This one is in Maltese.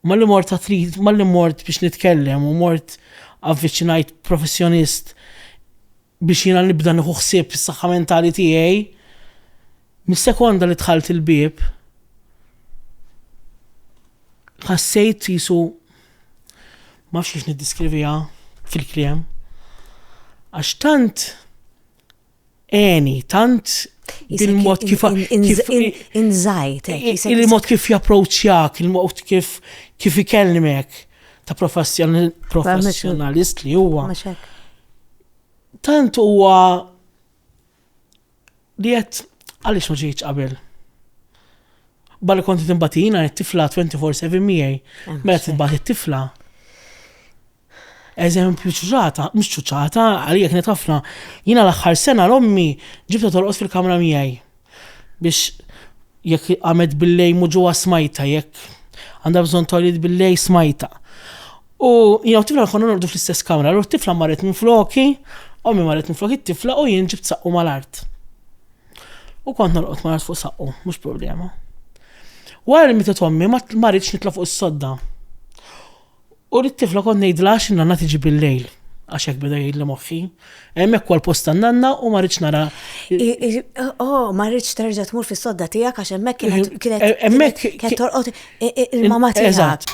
U malli mort għat-treat, malli mort biex nitkellem u mort avviċinajt professjonist biex jiena nibda nieħu ħsieb is-saħħa mentali tiegħi, mis-sekonda li dħalt il-bieb ħassejt jisu ma fx kif niddiskriviha fil-kliem għax tant Eni, tant il-mod kif inżajt. Il-mod kif japproċċjak, il-mod kif kif ikellmek ta' professjonalist li huwa. Tant huwa li qed għaliex ma ġejtx qabel. Bal konti timbatina, tifla 24-7 miegħi, meta tibgħat it-tifla. Eżempju ċuċata, mhux ċuċata, għalija kienet ħafna. Jiena l-aħħar sena l-ommi ġibta torqos fil-kamra miegħi. Biex jekk għamet billej muġuwa smajta, jekk għandha bżonn tolit billej smajta. U jiena tifla konna nordu fl-istess kamra, l tifla marret minn floki, ommi marret minn floki t-tifla u jien ġibt saqqu mal-art. U kont norqod mal-art fuq saqqu, mhux problema. Wara li mitet ommi ma marritx nitla fuq is-sodda. U lit-tifla kont ngħidilha għax in-nanna tiġi bil-lejl għax hekk beda jgħidli moħħi. Hemmhekk huwa l-post tan-nanna u ma rridx nara. Oh, ma rridx terġa' tmur fis-sodda tiegħek għax hemmhekk kienet kienet eh, hemmhekk kienet torqod il-mama tiegħek. Eżatt.